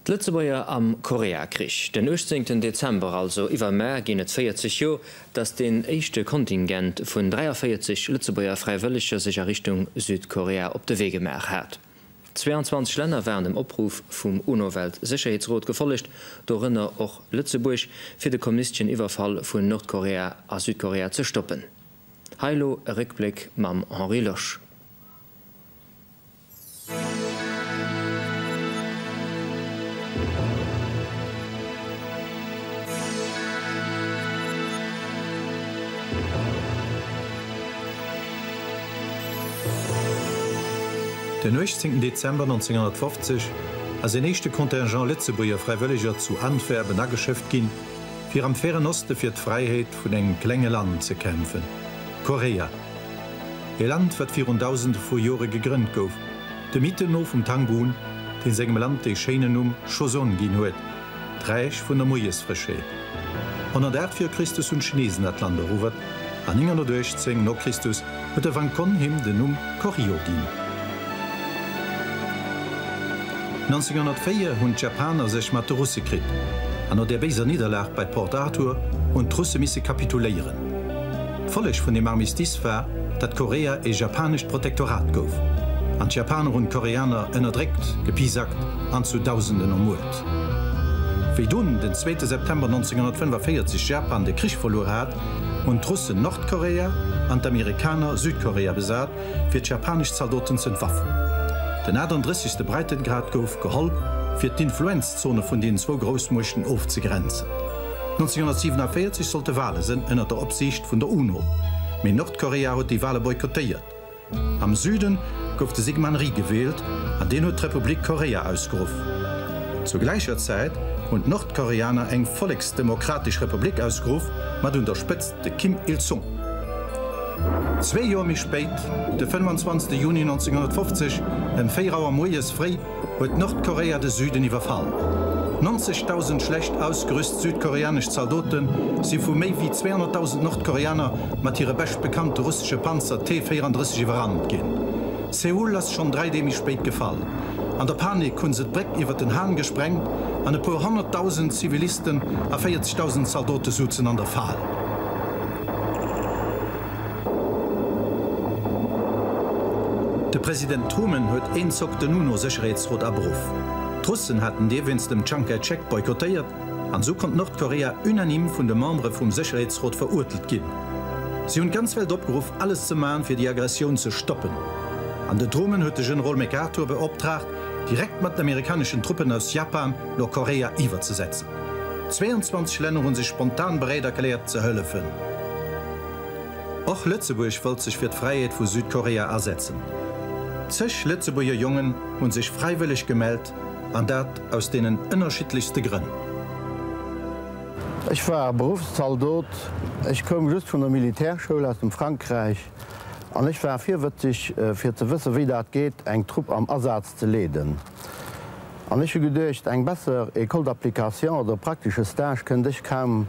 D'Lëtzebuerger am Koreakrich, den 18 Dezember, also iwwermar ginn et 40 Joer, datt deen éischte Kontingent vun 43 Lëtzebuerger Fräiwëlleger sech a Richtung Südkorea op de Wee gemaach hat. 22 Länner waren dem Opruff vum UNO-Weltsécherheetsrot gefollegt, dorënner och Lëtzebuerg, fir de kommunistesche Iwwerfall vun Nordkorea a Südkorea ze stoppen. Hei lo e Réckbléck mam Henri Losch. Den 18 Dezember 1950 ass een éischte Contingent Lëtzebuerger Fräiwëlleger zu Antwerpen ageschëfft ginn, fir am Feren Oste fir d'Fräiheet vun engem klenge Land ze kämpfen, Korea. E Land, wat virun Dausende vu Jore gegrënnt gouf, de Mythen no vum Tangun, dee sengem Land dee schéinen Numm Choson ginn huet, d'Räich vun der Moiesfrëschheet. 108 vir Christus hunn d'Chinesen dat Land eruewert. An 918 no Christus huet de Wang Kon him den Numm Koryo ginn. 1904 hunn d'Japaner sech mat de Russe kritt, an no der béiser Nidderlag bei Port Arthur hunn d'Russe misse kapituléieren. D'Folleg vun dem Armistice war, datt Korea ee japanescht Protektorat gouf, an d'Japaner hunn d'Koreaner ënnerdréckt, gepisakt an zu Dausenden ermuert. Wéi dunn den zweete September 1945 Japan de Krich verluer hat, hunn d'Russen Nordkorea an d'Amerikaner Südkorea besat, fir d'japanesch Zaldoten z'entwaffen. Den 38. Breitengrad gouf geholl, fir d'Influenzzone vun deenen zwou Groussmuechten ofzegrenzen. 1947 sollte Wale sënn, ënner der Opsiicht vun der UNO, mee Nordkorea huet déi Wale boykottéiert. Am Süden gouf de Syngman Rhee gewielt an deen huet d'Republik Korea ausgeruff. Zur gläicher Zäit hunn d'Nordkoreaner eng Volleksdemokratesch Republik ausgeruff mat un der Spëtzt de Kim Il Sung. Zwee Joer méi spéit, de 25 Juni 1950 ëm 4 Auer moies fréi, huet Nordkorea de Süden iwwerfall. 90.000 schlecht ausgerüst südkoreanesch Zaldote si vu méi wéi 200.000 Nordkoreaner mat hire beschtbekannte russesche Panzer T-34 iwwerrannt ginn. Seoul ass schonn dräi Dee méi spéit gefall. An der Panik hu se d'Bréck iwwer den Han gesprengt an e puer honnertdausend Zivilisten a 40.000 Zaldote souzen an der Fal. De President Truman huet een Zock den UNO-Sécherheetsrot aberuff. D'Russen haten dee wéinst dem Tschang Kai-Chek boykottéiert an esou konnt Nordkorea unanime vun de Membere vum Sécherheetsrot veruertelt ginn. Si hunn d'ganz Welt opgeruff alles ze maachen fir déi Aggressioun ze stoppen an de Truman huet de Generol MacArthur beoptraagt direkt mat den amerikaneschen Truppen aus Japan Nordkorea iwwerzesetzen. 22 Länner hu sech spontan bereet erkläert ze hëllefen. Och Lëtzebuerg wëllt sech fir d'Fräiheet vu Südkorea asetzen. Zeg Lëtzebuerger Jongen hunn sech fräiwëlleg gemellt an dat aus deenen ënnerschiddlechste Grënn. Ech war Beruffszaldot, ech koum just vun der Militärschoul aus dem Frankräich an ech war virwëtzeg fir ze wësse wéi dat geet eng Trupp am Asaz ze leeden an ech hu geduecht, eng besser École d'application oder praktesche Stage kënnt ech kaum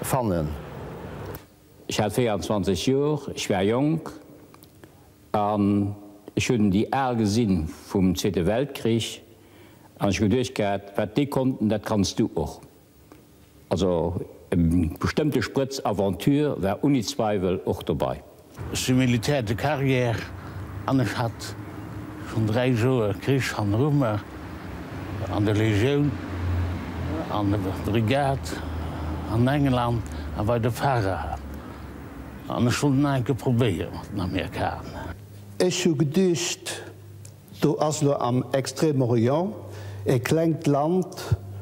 fannen. Ech hat 24 Joer, ech war jonk an ech hunn déi al gesinn vum Zweete Weltkrich an ech hu geduecht gehat, wat déi konnten, dat kanns du och. Also e bestëmmte Sprëtz Aventure war unni Zweiwel och dobai. Ech si Militär de carrière an ech hat schonn 3 Joer Krich hanneru mer, an der Legioun, an der Brigade, an England a bei de Pharae, an ech wollt et nach enke probéiere mat den Amerikaner. Ech hu geduecht, Do ass lo am Extrême Orient e klengt Land,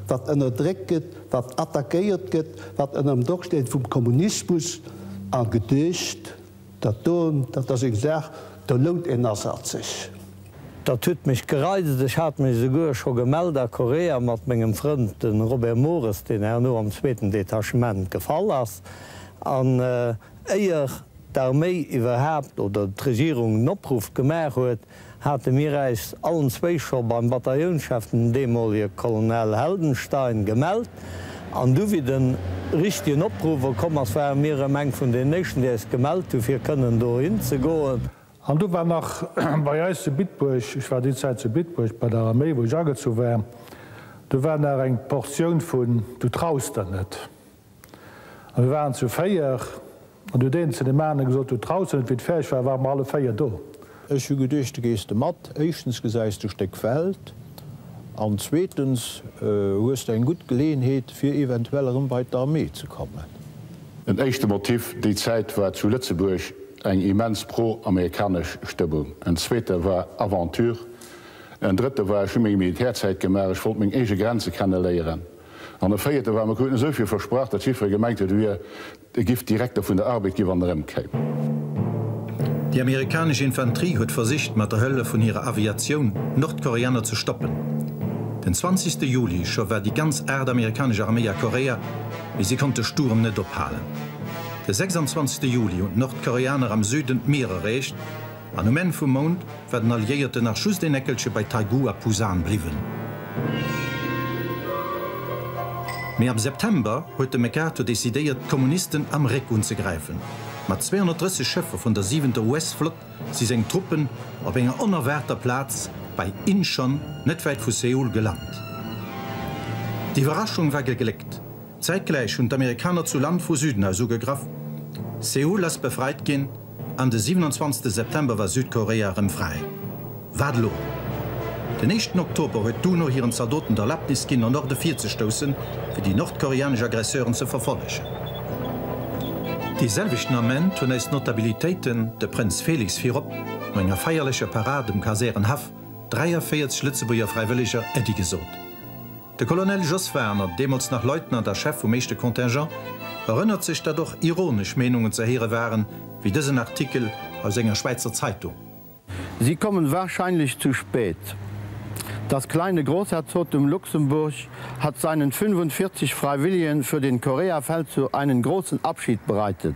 wat ënnerdréckt gëtt, wat attackéiert gëtt, wat ënnerm Doch steet vum Kommunismus, a geduecht, dat do, dat ass eng Saach, do lount een Asaz sech. Dat huet mech gereizt. Ech hat mech esouguer scho gemellt a Korea mat mengem Frënd, de Robert Mores, deen herno am zweeten Detachement gefall ass, an éier d'Arméi iwwerhaapt oder d'Regierung en Opruff gemaach huet, hate mir äis allen zwéi scho beim Bataillounschef, den deemolige Colonel Heldenstein, gemellt, an du wéi de richtegen Opruff erkomm ass, ware mir erëm eng vun den éischten, déi äis gemellt hu fir kënnen dohin ze goen. An du war nach bei äis zu Bitburg, ech war déi Zäit zu Bitburg bei der Arméi, wou ech agezu war, du war nach eng Portioun vun du traus der net. A mir waren zu véier, an du huet een zu deem anere gesot, do draussen, et wéi et fäerdeg war, ware mer alle véier do. Ech hu geduecht, du gees de mat, éischtens gesäis du e Stéck Welt, an zweetens hues de eng gutt Geleeënheet, fir eventuell erëm bei d'Armée ze kommen. En éischte Motiv déi Zäit war zu Lëtzebuerg eng immens pro-amerikanesch Stëmmung, en zweete war Aventure, en drëtte war, ech hu meng Militärzäit gemaach, ech wollt meng eege Grenze kenne léieren. An e véierte war, Mir kruten esou vill versprach, datt jiddweree gemengt huet, et wier e Gift Direkter vun der Arbed ginn, wann en erëmkéim. Déi amerikanesch Infanterie huet versicht, mat der Hëllef vun hirer Aviatioun d'Nordkoreaner ze stoppen. Den 20 Juli scho war déi ganz Aacht amerikanesch Arméi a Korea, mee si konnt de Sturm net ophalen. De 26 Juli hunn d'Nordkoreaner am Süden d'Mier erreecht. An um Enn vum Mount war den Alliéierten nach just een Eckelche bei Taegu a Pusan bliwwen. Mee am September huet de MacArthur decidéiert, d'Kommunisten am Réck unzegräifen. Mat 230 Schëffer vun der siwenter US-Flott si seng Truppen op enger onerwaarter Plaz bei Incheon, net wäit vu Seoul, gelant. D'Iwwerraschung war gegléckt. Zäitgläich hunn d'Amerikaner zu Land vu Süden aus ugegraff. Seoul ass befreit ginn. An de 27 September war Südkorea erëm fräi. Wat elo? Den éischten Oktober huet d'UNO hiren Zaldoten d'Erlaabnis ginn, an Norde virzestoussen, fir déi nordkoreanesch Aggresseuren ze verfollegen. Dee selwechten Ament hunn eis Notabilitéiten, de Prënz Felix virop, no enger feierlecher Parade um Kasärenhaff 43 Lëtzebuerger Fräiwëlleger Äddi gesot. De Colonel Jos Warner, deemools nach Leutnant a Chef vum éischte Contingent, erënnert sech, datt och ironesch Meenungen ze héiere waren, wéi dësen Artikel aus enger Schwäizer Zeitung. Sie kommen wahrscheinlich zu spät. Das kleine Großherzogtum Luxemburg hat seinen 45 Freiwilligen für den Koreafeldzug einen großen Abschied bereitet.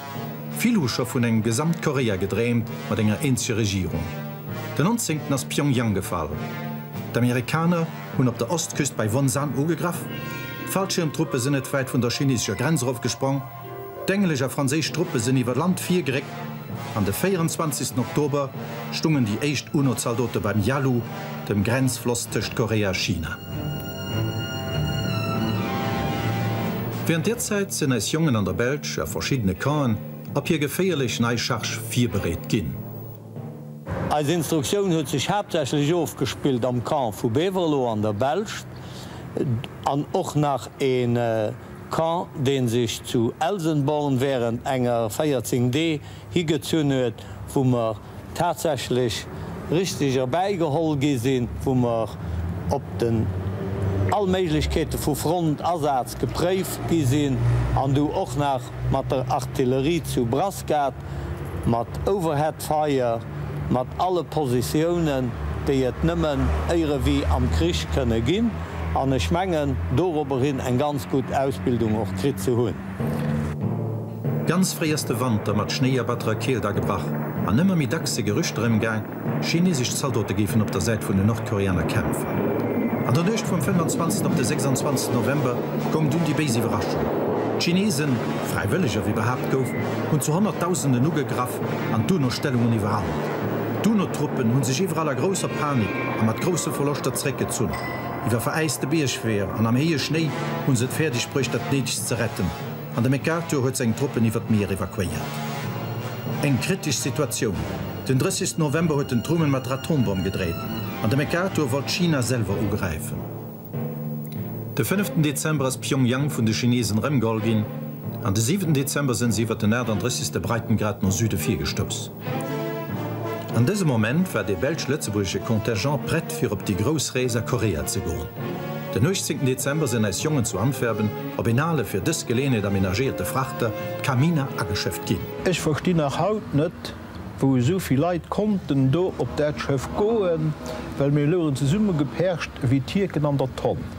Vill hu scho vun engem Gesamtkorea gedreemt, mat enger eenzeger Regierung. Den 19 ass Pyongyang gefall. D'Amerikaner hunn op der Ostküst bei Wonsan ugegraff, d'Fallschiermtruppe sinn net wäit vun der chinesescher Grenz erofgesprong, d'englesch a franséisch Truppe sinn iwwer Land virgeréckt an de 24 Oktober stungen déi éischt UNO-Zaldote beim Yalu, dem Grenzfloss tëscht Korea a China. Während der Zäit sen eis Jongen an der Belsch a verschiddene Campen op hir geféierlech nei Charge virbereet ginn. Eis Instruktioun huet sech haaptsächlech ofgespillt am Camp vu Beverlo an der Belsch an och nach een Camp deen sech zu Elsenborn während enger 14 Dee higezunn huet wou mer tatsächlech richteg erbäigeholl gi sinn, wou mer op den all Méiglechkeete vu Frontdasaz gepréift gi sinn an du och nach mat der Artillerie zu Brasgat, mat Overhead Fire, mat alle Positiounen, déi et nëmmen éirewie am Krich kënne ginn, an ech mengen, dorobberhin eng ganz gutt Ausbildung och kritt ze hunn. Ganz fréi ass de Wanter mat Schnéi a batterer Keelt agebrach, an ëmmer méi dacks si Gerüchter ëmgaang, chineesesch Zaldote géifen op der Säit vun den Nordkoreaner kämpfen. An der Nuecht vum 25. op de 26. November koum dunn déi béis Iwwerraschung, D'Chineesen, fräiwëlleger wéi behaapt gouf, hunn zu Honnertdausenden ugegraff an d'UNO-Stellungen iwwerrannt. D'UNO-Truppen hu sech iwwerall a grousser Panik a mat grousse Verloschter zeréckgezunn. Iwwer veräiste Biergweeër an am héije Schnéi hu se et fäerdeg bruecht, dat Néidegst ze retten. an de MacArthur huet seng Truppen iwwer d'Mier evakuéiert. Eng kritesch Situatioun. Den 30 November huet den Truman mat der Atombomm gedreet, an de MacArthur wollt China selwer ugräifen. De fënneften Dezember ass Pyongyang vun de Chinesen erëmgeholl ginn, an de siwenten Dezember sënn se iwwer den 38. Breitengrad no Süde virgestouss. An dësem Moment war dee belsch-lëtzebuergesche Contingent prett fir op déi grouss Rees a Korea ze goen. Den 18 Dezember sinn eis Jongen zu Antwerpen op een ale, fir dës Geleeënheet amenagéierte Frachter, d'Camina, ageschëfft ginn. Ech verstinn nach haut net, wou esou vill Leit konnten do op dat Schëff goen, well mir louchen zesummegeperscht ewéi Tierken an der Tonn.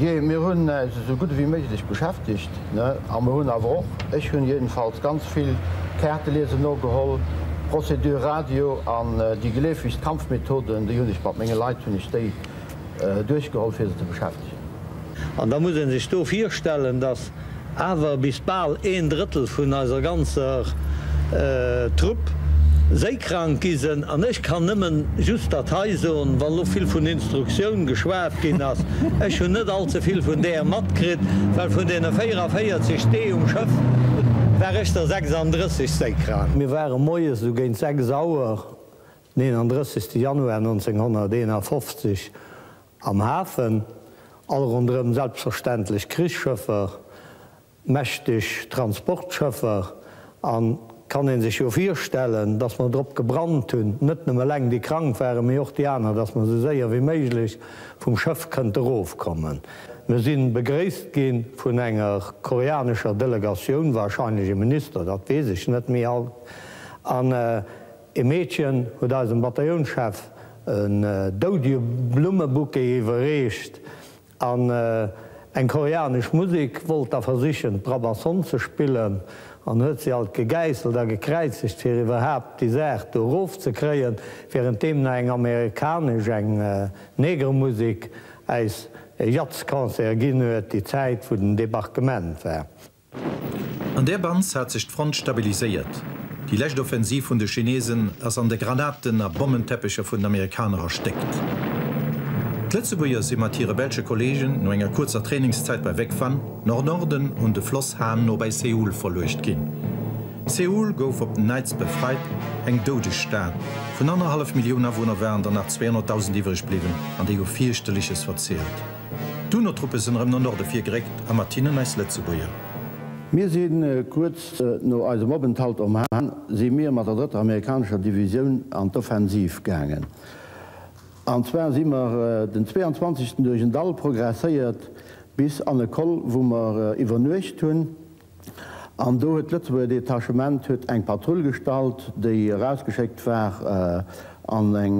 Jee, mir hunn äis esou gutt ewéi méiglech beschäftegt, ne? A mer hunn awer och, ech hunn jedenfalls, ganz vill Kaarte liesen nogeholl, Procédure Radio an déi geleefegst Kampfmethoden, déi hunn ech mat menge Leit hunn ech déi duerchgeholl, fir se ze beschäftegen. An da muss ee sech do virstellen, datt Awer bis bal een Drëttel vun eiser ganzer Trupp séikrank gi sen, an ech kann nëmmen just dat hei soen, wann elo vill vun Instruktioun geschwat ginn ass, ech hunn net all ze vill vun deer matkritt, well vun deene 44 Dee um Schëff war ech der 36. séikrank. Mir ware moies esou géint 6 Auer den 31. Januar 1951 Am Hafen, all ronderëm selbstverständlech Krichsschëffer, mächteg Transportschëffer, an kann een sech jo virstellen, dass mer drop gebrannt hunn, net nëmme eleng déi krank waren, mee och déi aner, dass mer esou séier wéi méiglech vum Schëff kënnte erofkommen. Mir sinn begréisst ginn vun enger koreanescher Delegatioun, wahrscheinlech e Minister, dat weess ech net méi alt, an, E Meedchen huet eisem Bataiouns-Chef en doudie Blummebouquet iwwerreecht an eng koreanesch Musek wollt da versichen, d'Brabançonne ze spillen, an huet se alt gegäisselt a gekräizegt, fir iwwerhaapt déi Saach do erof ze kréien, während deemno eng amerikanesch, eng Negremusek äis e Jazzconcert ginn huet, déi Zäit, wou den Debarquement war. An där Bans hat sech d'Front stabiliséiert. Déi lescht Offensiv vun de Chinesen ass an de Granaten a Bommenteppecher vun den Amerikaner erstéckt. D'Lëtzebuerger si mat hire belsche Kolleegen no enger kuerzer Trainingszäit bei Vec Van, Nord-Norden un de Floss Han no bei Seoul verluecht ginn. Seoul gouf op den Neits befreit, eng doudeg Stad vun annerhallef Millioun Awunner waren der nach 200.000 iwwreg bliwwen an déi hu Fierchterleches verzielt. D'UNO-Truppe sinn erëm no Norde virgeréckt a mat hinnen eis Lëtzebuerger. Mir si kuerz no eisem Openthalt um Hahn si mir mat der drëtter amerikanescher Divisioun an d'Offensiv gaangen. An zwar si mer den 22 duerch en Dall progresséiert bis an e Col wou mer iwwernuecht hunn. An do huet d'Lëtzebuerger Detachement huet eng Patrull gestallt, déi erausgeschéckt war, an eng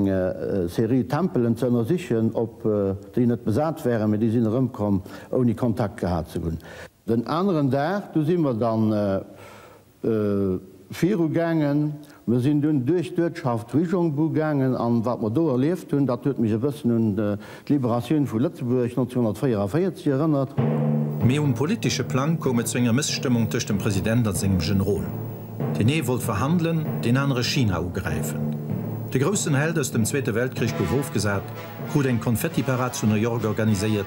Serie Tempelen ze ënnersichen, ob déi net besat wären, mee déi sinn erëmkomm, ouni Kontakt gehat ze hunn. Den aneren Dag, du si mer dann. Viru gaangen. Mir sinn dunn duerch d'Uertschaft Huizhongbu gaangen, an wat mer do erlieft hunn, dat huet mech e bëssen un d'Liberatioun vu Lëtzebuerg 1944 erënnert. Mee um politesche Plang koum et zu enger Mësstëmmung tëscht dem President a sengem Generol. Deen ee wollt verhandelen, deen anere China ugräifen. De groussen Held aus dem Zweete Weltkrich gouf ofgesat, krut eng Konfettiparad zu New York organiséiert,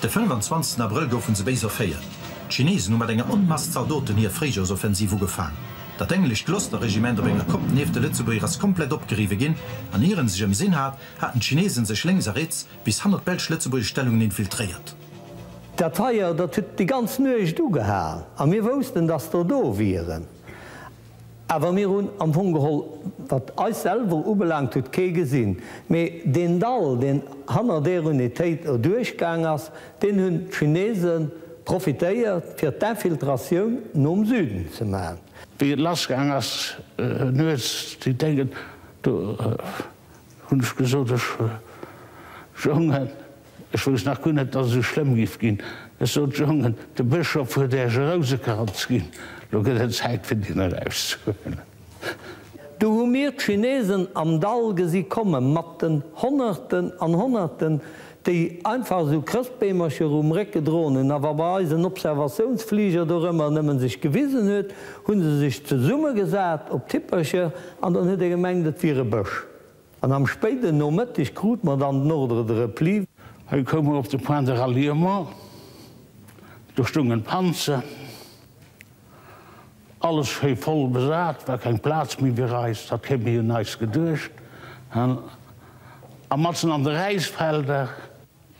De 25 Abrëll goufe se béis erféiert. D'Chineesen hu mat enger Onmass Zaldoten hir Fréijoersoffensiv ugefaang. Dat englescht Gloucester-Regiment op enger Kopp nieft de Lëtzebuerger ass komplett opgeriwwe ginn an ier en sech ëmsinn hat, haten d'Chineesen sech lénks a riets bis hannert d'belsch-lëtzebuergesch Stellungen infiltréiert. Dat Feier, dat huet déi ganz Nuecht ugehalen a mir woussten, dass der do wieren. Awer mir hunn am Fong geholl, wat eis selwer ubelaangt huet, kee gesinn. Mee deen Dall, deen hanner deer Unitéit erduerchgaang ass, deen hunn d'Chinese profitéiert, fir d'Infiltratioun nom Süden ze maachen. Wéi et lassgaang ass nuets, déi Déngen, do hunn ech gesot, ech jongen, Ech wousst nach guer net, dass et esou schlëmm giff ginn. Ech sot, Jongen, de Bëschof huet äech e Rousekranz ginn, lo gëtt et Zäit, fir deen erauszehuelen. Du hu mir d'Chinesen am Dall gesi komme mat den Honnerten an Honnerten, déi einfach esou Chrëschtbeemercher erum Réck gedroen hunn. A wa bei eis en Observatiounsfliger dorëmmer nëmmen sech gewisen huet, hu se sech zesummegesat op d'Hippercher an dann huet ee gemengt, et wier e Bësch. An am spéiden Nomëtteg krut mer dann den Ordre de repli. Hei koum mer op de Point de ralliement. Do stoungen d'Panzer, alles schéi voll besat, war keng Plaz méi fir eis, dat kéint een jo neist geduecht hunn. A matzen an de Räisfelder,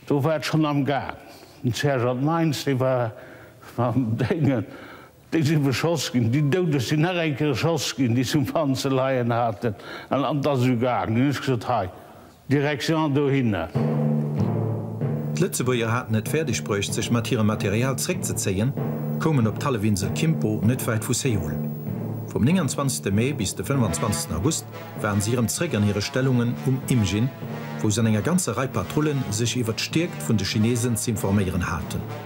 do war et schonn am Gaang. Den Sergeant Meins, dee war mam Déngen. Déi si beschoss ginn. Déi Doudeg sinn nach eng Kéier erschoss ginn, déi se um Fann ze leien haten. An an d'Asu gaangen. Hunn ech gesot, hei, Direction dohinner. D'Lëtzebuerger haten et fäerdeg bruecht, sech mat hirem Material zréckzezéien, koumen op d'Hallefinsel Kimpo, net wäit vu Seoul. Vum 29. Mee bis de 25. August waren si erëm zréck an hire Stellungen um Imjin, wou se an enger ganzer Rei Patrullen sech iwwert d'Stierkt vun de Chinesen z'informéieren haten.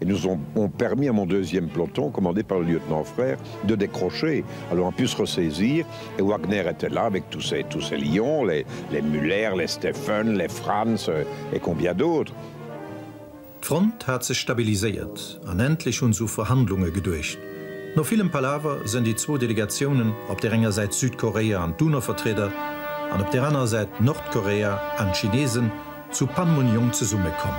et nous ont permis à mon deuxième peloton commandé par le lieutenant Frères de décrocher alors on pu se ressaisir et Wagner était là avec tous ces tous ces lions les les Muller, les Steffen, les Franz et combien d'autres. D'Front hat sech stabiliséiert an endlech hun se u Verhandlunge geduecht. No villem Palaver sen déi zwou Delegatiounen, op der enger Säit Südkorea an d'UNO-Vertrieder an op der anerer Säit Nordkorea an d'Chinesen, zu Panmunjom zesummekomm.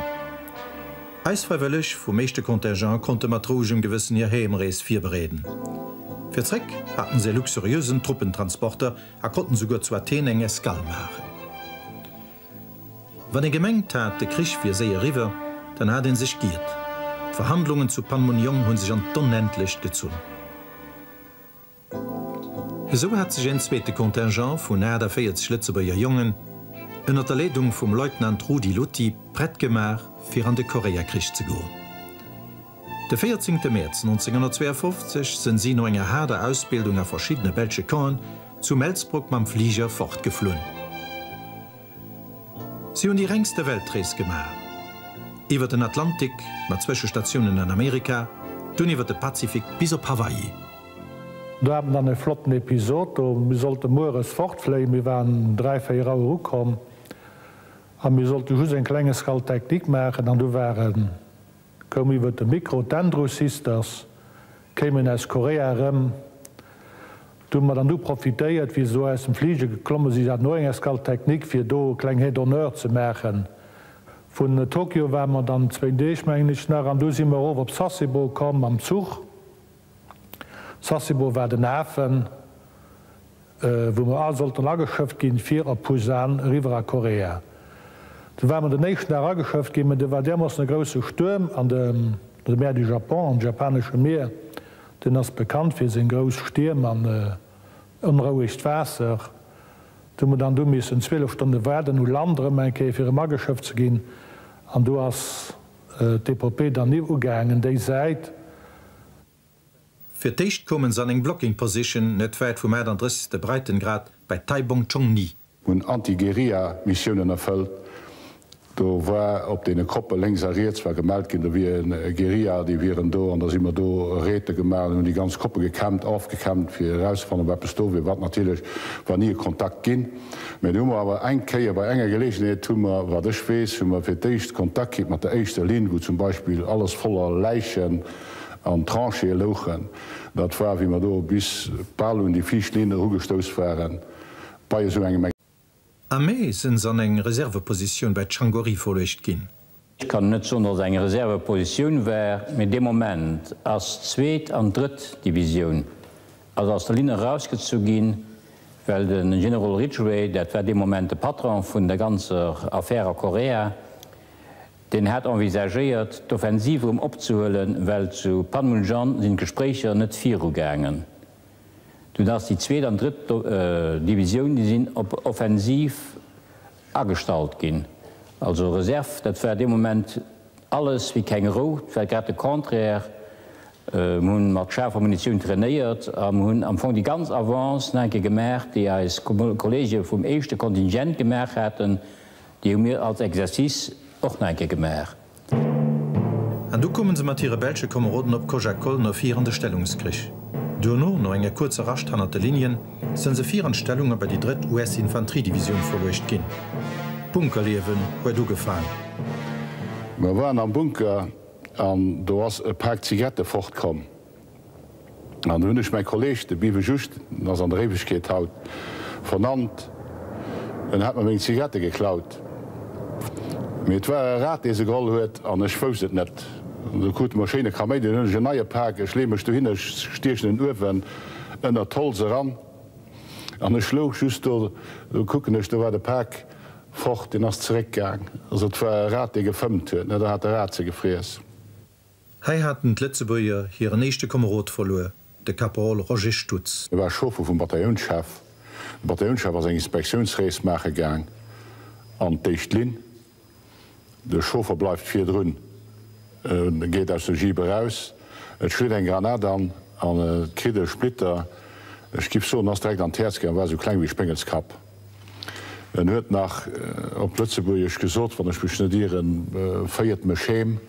Eis Fräiwëlleg vum éischte Contingent konnte mat rouegem Gewëssen hir Heemrees virbereeden. Fir zréck haten se e luxuriösen Truppentransporter a konnten souguer zu Athen eng Escale maachen. Wann ee gemengt hat, de Krich wier séier eriwwer, dann hat ee sech giert. D'Verhandlungen zu Panmunjom hu sech an d'Onendlecht gezunn. Esou hat sech een zweete Contingent vun 48 Lëtzebuerger Jongen, ënnert der Leedung vum Leutnant Rudi Lutti, prett gemaach, fir an de Koreakrich ze goen. De 14 Mäerz 1952 sënn si no enger haarder Ausbildung a verschiddene belsche Campen zu Melsbroek mam Fliger fortgeflunn. Si hunn déi rengste Weltrees gemaach, iwwer den Atlantik mat Zwëschestatiounen an Amerika, dunn iwwer de Pazifik bis op Hawaii. Do hat en dann e flotten Episod do. Mir sollte mueres fortfléien, mir waren dräi, véier Auer ukomm a mir sollte just en klenge Scal technique maachen an du waren, koum iwwert de Mikro, d'Andrews Sisters kéimen aus Korea erëm. Du hu mer dann du profitéiert, wéi se do aus dem Fliger geklomme si, se haten och eng Escale technique, fir do e kleng Hit d'honneur ze maachen. Vun Tokio ware mer dann zwéin Deeg, mengen ech, nach an du si mer erof op Sasebo komm mam Zuch. Sasebo war den Hafen, wou mer all sollten ageschëfft ginn, fir op Busan eriwwer a Korea. Do ware mer den éischten Dag ageschëfft ginn, mä do war därmoossen e grousse Stuerm an de Mer du Japon, am Japanesche Mier, deen ass bekannt fir seng grouss Stierm an onrouegt Waasser, do hu mer dann do missen 12 Stonne waarden, u Land erëm eng Kéier, fir erëm ageschëfft ze ginn an do ass. D'Epopée dann nees ugaangen, déi Säit. Fir d'éischt koumen se an eng Blocking Position net wäit vum 38. Breitengrad bei Taibong Chong Ni. Hunn Anti-Guerilla Missiounen erfëllt. Do war op deene Koppe lénks a riets war gemellt ginn, do wieren Guerilla, déi wieren do an da si mer do Raidë gemaach an hunn déi ganz Koppe gekämmt, aufgekämmt fir erauszefannen, wat eppes do wier, wat natierlech war ni e Kontakt ginn. Mee do hu mer awer eng Kéier, bei enger Geleegenheet hu mer, wat ech weess, hu mer fir d'éischt Kontakt kritt mat der éischter Linn, wou zum Beispill alles voller Läichen an Tranchéë louchen. Dat war, wéi mer do bis bal un déi viischt Linn erugestouss waren bei esou engem. Am Mee sinn se an eng Reservepositioun bei Changory verluecht ginn. Ech kann net soen, datt et eng Reservepositioun war, mee dee Moment ass d'zweet an d'drëtt Divisioun also aus der Linn erausgezu ginn, well de Generol Ridgway, dat war dee Moment de Patron vun der ganzer Affär a Korea, deen hat envisagéiert, d'Offensiv erëm opzehuelen, well zu Panmunjom sinn d'Gespréicher net virugaangen. Dunn ass déi zweet an d'drëtt Divisioun, déi sinn op Offensiv Agestallt ginn. Also Reserve, dat war dee Moment alles wéi keng Rou, 't war grad de Contraire. Mir hunn mat schaarfer Munitioun trainéiert a mir hunn am Fong déi ganz Avance nach eng Kéier gemaach, déi eis Kollege vum éischte Kontingent gemaach haten, déi hu mir als Exercice och nach eng Kéier gemaach. An du koumen se mat hire belsche Komeroden op Koja Kolno fir an de Stellungskrich. Duerno, no enger kuerzer Rascht hannert de Linien, sen se fir an d'Stellung a bei déi drëtt US Infanteriedivisioun verluecht gin. D'Bunkerliewen huet ugefaang. Mer waren am Bunker an do ass e Paak Zigarette fortkomm. An do hunn ech mäi Kolleg, de Bive Just, en ass an der Éiwegkeet haut, vernannt. En hat mer meng Zigarette geklaut. Mee et war e Rat, dee se geholl huet, an ech wousst et net. An du krute mer e schéine Kaméidi. Dunn hunn ech en neie Pak. Ech leeë mech dohinner, ech stiechen en uewen ënnert d'Holz eran. An ech louch just do. Du kucken ech, do war de Pak fort. Deen ass zeréckgaang. Also et war e Rat, dee gefëmmt huet. Da hat de Rat se gefriess. Hei haten d'Lëtzebuerger hiren éischte Komerod verluer, de Kaperol Roger Stutz. Hie war Chauffer vum Bataillounschef. De Bataillounschef ass eng Inspektiounsrees maache gaang an d'éischt Linn. De Chauffer bleift virdrun, e geet aus der Jeep eraus, et schléit eng Granat an an et kritt e Splitter, ech giff soen, ass direkt an d'Häerz gaangen, war esou kleng ewéi e Spéngelskapp. En huet nach op Lëtzebuergesch gesot, wann ech mech net ieren, Féiert mech heem!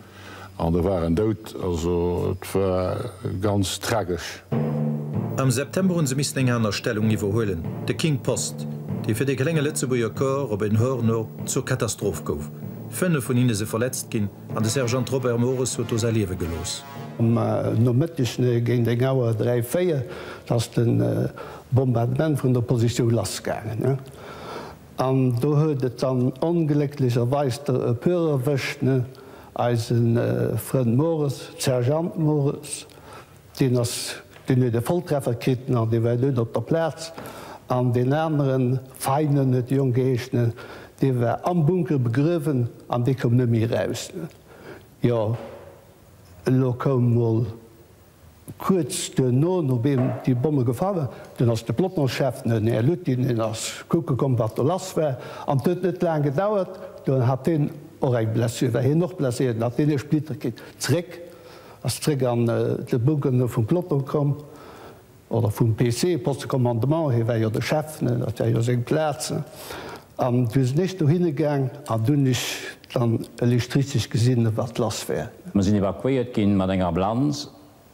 An da war en dout. Also et war ganz tragesch. Am September hu se missen eng aner Stellung iwwerhuelen, de King Post, dee fir dee klenge Lëtzebuerger Corps op en Horno zur Katastroph gouf. Fënnef vun hinne si verletzt ginn an de Sergeant Robert Mores huet do säi Liewe gelooss. Am Nomëtteg géint eng Auer dräi, véier ass de. Bombardement vun der Positioun lassgaangen. An do huet et dann onglécklecherweis der e puer erwëscht. Eise Frënd Mores, Sergeant Mores, deen ass, deen huet e Volltreffer kritt, an dee war dout op der Plaz. An deen aneren, Feinen huet de Jong geheeschen, dee war am Bunker begruewen an dee koum net méi eraus. Jo, elo koum mol Kuerz duerno, nodéem déi Bomme gefall, dunn ass de Pelotonschef, den Här Lutin, deen ass kucke komm, wat do lass war. An et huet net laang gedauert, do hat hien och eng Blessure, war hien och blesséiert, an hat hien e Splitter kritt. Zeréck, ass zeréck an de Bougeonneau vum Peloton komm, oder vum PC, Poste de Commandement, hie war jo de Chef, dat war jo seng Plaz. An du sin ech dohinne gaang an du hun ech dann elechtrizeg gesin wat lass wär. Mer sin evakuéiert gin mat enger Amblanz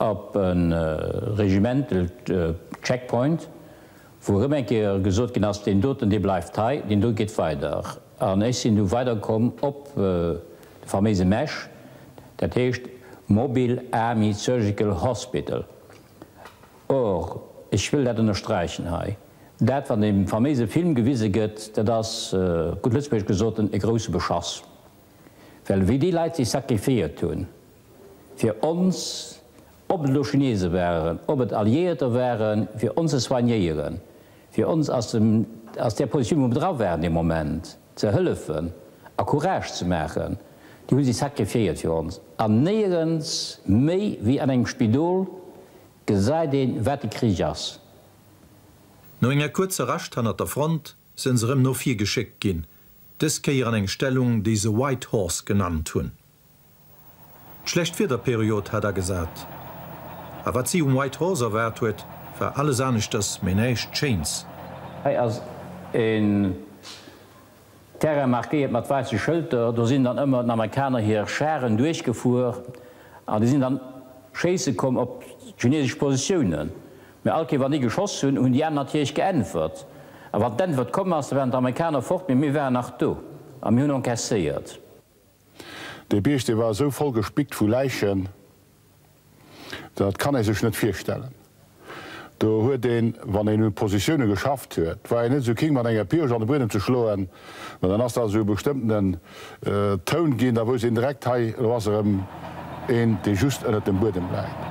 op e Regimental Checkpoint, wou erëm eng Kéier gesot gin ass, deen doten dee bleift hei, deen do geet weider. An ech sin du weider komm op de faméise Mesh, dat heescht Mobile Army Surgical Hospital, Or, ech wëll dat ënnersträichen hei, dat, wat ee faméise Film gewise gëtt, dat ass, gutt lëtzebuergesch gesoten, e grouse Beschass. Well wéi déi Leit sech sakrifiéiert hu fir ons, ob et elo Chinese waren, ob et Alliéierter waren, fir ons ze soignéieren, fir ons aus där Positioun, wou mer dra waren dee Moment, Ze hëllefen a Courage ze maachen, déi hu si sacrifiéiert fir ons. An néierens méi wéi an engem Spidol gesäit een, wat de Krich ass. No enger kuerzer Rascht hannert der Front sënn se erëm no vir geschéckt ginn, dës Kéier an eng Stellung, déi se White Horse genannt hunn. D'schlecht Wiederperiod hat agesat, a wat si um White Horse erwaart huet, war alles aneschters, mee näischt Schéins. Hei ass en Terrain markéiert mat waisse Schëlter, do sinn dann ëmmer den Amerikaner hir Charen duerchgefuer an déi sinn dann schéisse komm op d'chinesesch Positiounen. Mee all Kéier wann déi geschoss hunn, hunn déi aner natierlech geäntwert. A wann d'Äntwert komm ass, da waren d'Amerikaner fort, mee mir waren nach do a mir hunn encasséiert. Dee Bierg, dee war esou voll gespickt vu Läichen, dat kann ee sech net virstellen. Do huet een, wann een un d'Positioune geschafft huet, war een net esou keen, mat enger Pirsch an de Buedem ze schloen, mä dann ass dat esou e bestëmmtenen Toun ginn. Da wousst een direkt, hei, elo ass erëm een, dee just ënnert dem Buedem läit.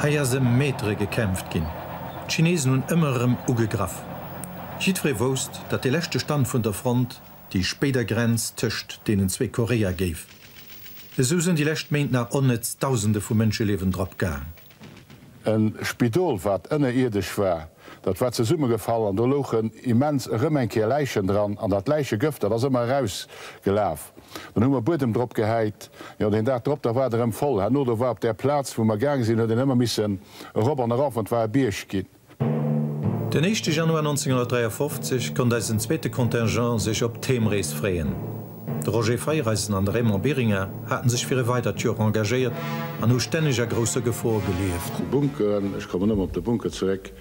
Hei ass ëm Metere gekämpft ginn. D'Chinesen hunn ëmmer erëm ugegraff. Jiddweree wousst, datt dee leschte Stand vun der Front, déi spéider Grenz tëscht deenen zwee Koreae géif. Esou sinn déi lescht Méint nach onnëtz Dausende vu Mënscheliewen drop gaang. E Spidol, wat ënnerierdesch war, dat war zesummegefall an do louchen immens erëm eng Kéier Läichen dran. An dat Läichegëft, dat ass ëmmer erausgelaf. Dann hu mer Buedem drop gehäit. Jo, deen Dag drop, da war et erëm voll. Herno do war op där Plaz, wou mer gaang sinn, huet een ëmmer missen erop an erof an et war e Bierg ginn. Den éischte Januar 1953 konnt eisen zweete Contingent sech op d'Heemrees freeën. De Roger Feiereisen an de Raymond Biringer hate sech fir e weidert Joer engagéiert an hu stänneg a grousse Gefor gelieft. D'Bunkeren, ech kommen ëmmer op de Bunker zeréck,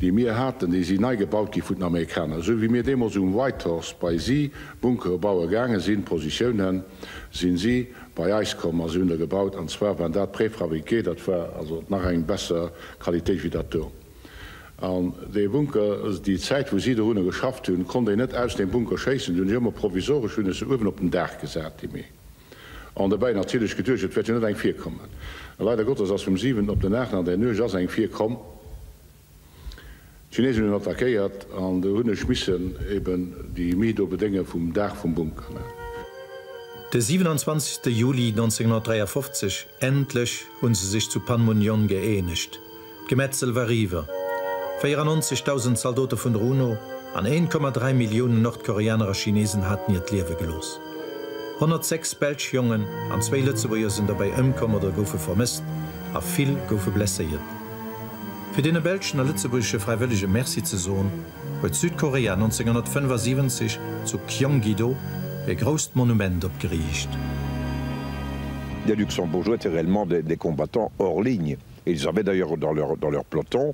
déi mir haten, déi si nei gebaut gi vun den Amerikaner. Esou wéi mir deemools um Whitehorse bei si Bunkere baue gaange sinn, Positiounen, sinn si bei eis komm a si hunn der gebaut. An zwar waren dat Préfabriqué, dat war also nach eng besser Qualitéit wéi dat do. An dee Bunker, déi Zäit wou si dorunner geschafft hunn, konnt een net aus deem Bunker schéissen. Dunn ech ëmmer provisoresch hunn ech se uewen op den Daach gesat, déi méi. An dobäi natierlech geduecht, et wäert jo net eng virkommen. A leider Gottes ass vum siwenten op den aachten an där Nuecht ass eng virkomm. D'Chineesen hunn attackéiert an do hunn ech missen eben déi Mii do bedénge vum Daach vum Bunker, ne. De 27 Juli 1953, endlech hunn se sech zu Panmunjon gëeenegt. D'Gemetzel war eriwwer. 94.000 Zaldote vun der UNO an 1,3 Milliounen Nordkoreaner a Chineesen haten hiert Liewe gelooss. 106 belsch Jongen an zwéi Lëtzebuerger sinn dobäi ëmkomm oder goufe vermësst a vill goufe blesséiert. Fir deene belschen a lëtzebuergesche Fräiwëllege Merci ze soen, huet Südkorea 1975 zu Kyonggi-do e grousst Monument opgeriicht. Les Luxembourgeois étaient réellement des combattants hors ligne et ils avaient d'ailleurs dans leur peloton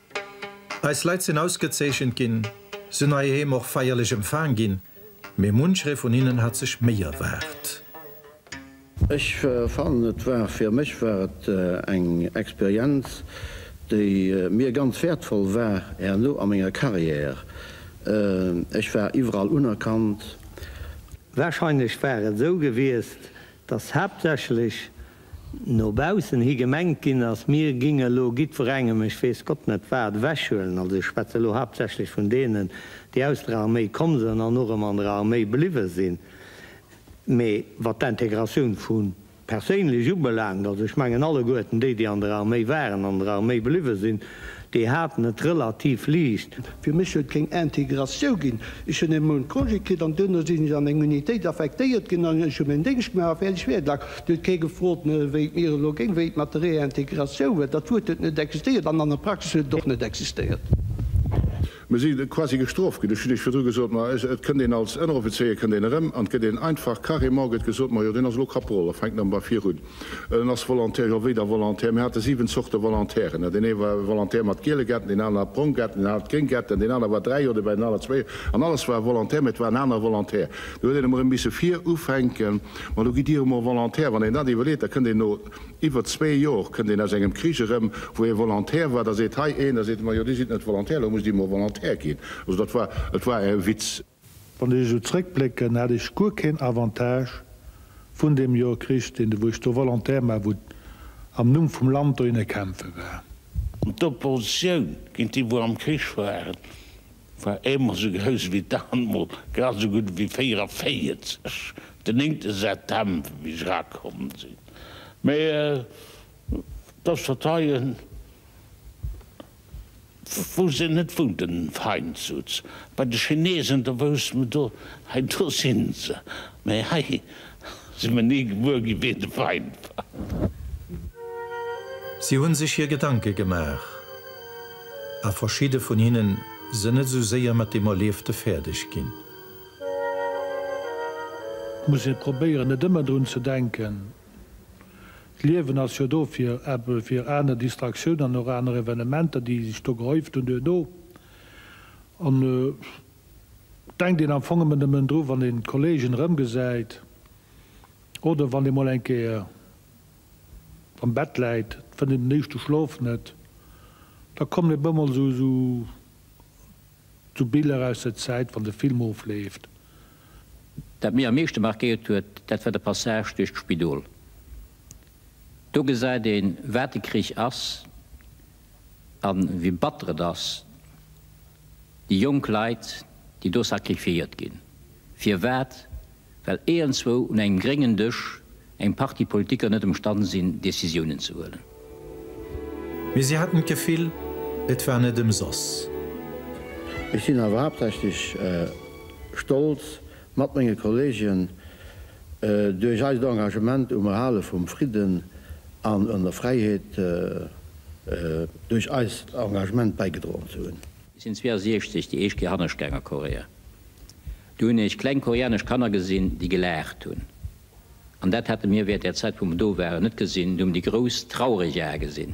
Eis Leit sinn ausgezeechent ginn, sinn heiheem och feierlech empfaang ginn, mee muncheree vun hinnen hat sech méi erwaart. Ech fannen et war, fir mech war et eng Experienz, déi mir ganz wäertvoll war herno a menger Carrière. Ech war iwwerall unerkannt. Wahrscheinlech war et esou gewiesst, dass haaptsächlech no baussen hi gemengt ginn ass, mir géinge elo giddwerengem, ech weess Gott net wat, ewechhuelen, also ech schwätze elo haaptsächlech vun deenen, déi aus der Arméi komm sënn an och ëm an der Arméi bliwwe sinn, mee wat d'Intégratioun vu perséinlech ubelaangt, also ech mengen alleguerten déi, déi an der Arméi waren, an der Arméi bliwwe sinn, Déi haten et relativ liicht. Fir mech huet keng Integratioun ginn. Ech hunn e Mount Congé kritt an duerno sinn ech an eng Unitéit affektéiert ginn an ech hu meng Déngscht gemaach a fäerdeg wär et laang. Do huet kee gefrot, wéi et mir elo géing, wéi et mat der Réintegratioun wär. Dat Wuert huet net existéiert an an der Praxis huet et och net existéiert. Mir si quasi gestroft ginn. Ech hunn Iech virdru gesot, ma et kënnt een als Ënneroffizéier kënnt een erëm an et gëtt een einfach carrément gëtt gesot, majo deen ass elo Kaporal, da fänkt nëmme bei vir un, en ass Volontaire. Jo, wéi da Volontaire? Mir hate siwen Zorte Volontairen. Deen ee war e Volontaire mat giele Gärten, deen anere hat brong Gärten, deen anere hat gréng Gärten, deen anere war dräi Joer dobäi, deen anere zwee Joer. An alles war e Volontaire, mä et war en anere Volontaire. Do huet een emol erëm misse vir ufänken. Ma elo gitt Dir emol Volontaire. Wann een dat iwwerleet, da kënnt een no. Iwwer zwee Jor kënnt een aus engem Krich erëm, wou ee Volontaire war. Da seet hei een, da seet de, majo, Dir sidd net Volontaire, elo musst Dir mol Volontaire ginn. Also dat war, et war e Witz. Wann ech esou zrëckblécken, hat ech guer keen Avantage vun deem Jor kritt, deen de, wou ech do Volontaire war, wou am Numm vum Land dohinner kämpfe war. D'Oppositioun géint déi, wou am Krich waren. War eemol sou grouss ewéi d'Aarmut, grad sou gutt ewéi 44, den néngte September, wéi ech erakomm sinn. Mee dass Fauteuilen, wou se net wunnten, fein sutz bei de Chinesen, da wousst mer do, hei do si se. Mee hei, Sin mer nie gewuer gin ween de Feind war. Si hun sech hir Gedanke gemaach, a verschidde vun hinnen sen net esou séier mat dem Erliefte fäerdeg gin. Et muss ee probéieren, net ëmmer drun ze denken. D'Liewen ass jo do fir eppes, fir aner Distraktioun an och aner Evenementer, déi sech do gehäuft hunn duerno. Denkt een am Fong ëmmer nëmmen dru wann een d'Kollegen erëmgesäit oder wann een mol eng Kéier am Bett läit, fënnt een den éischte Schlof net, da kommen e bemol esou esou Biller aus der Zäit wann de Film ofleeft. Dat mir am meeschte markéiert huet, dat war de Passage duerch d'Spidol. Do gesäit een wat de Krich ass. A wéi batter et ass, déi jonk Leit, déi do sacrifiéiert ginn. Firwat? Well éiernswou un engem gréngen Dësch eng Partie Politiker net emstann sinn, Décisiounen ze huelen. Mee si haten d'Gefill, et war net ëmsoss. Ech sinn awer haaptsächlech stolz, mat menge Kolleegen, Duerch eist Engagement um Erhale vum Fridden an un der Fräiheet duerch eist Engagement bäigedroen ze hunn. Ech sinn 62 déi éischt Kéier hannescht gaang a Korea. Do hunn ech kleng koreanesch Kanner gesinn, déi gelaacht hunn. An dat hate mir während där Zäit, wou mer do waren, net gesinn. Do hu mer déi grouss, traureg Ae gesinn.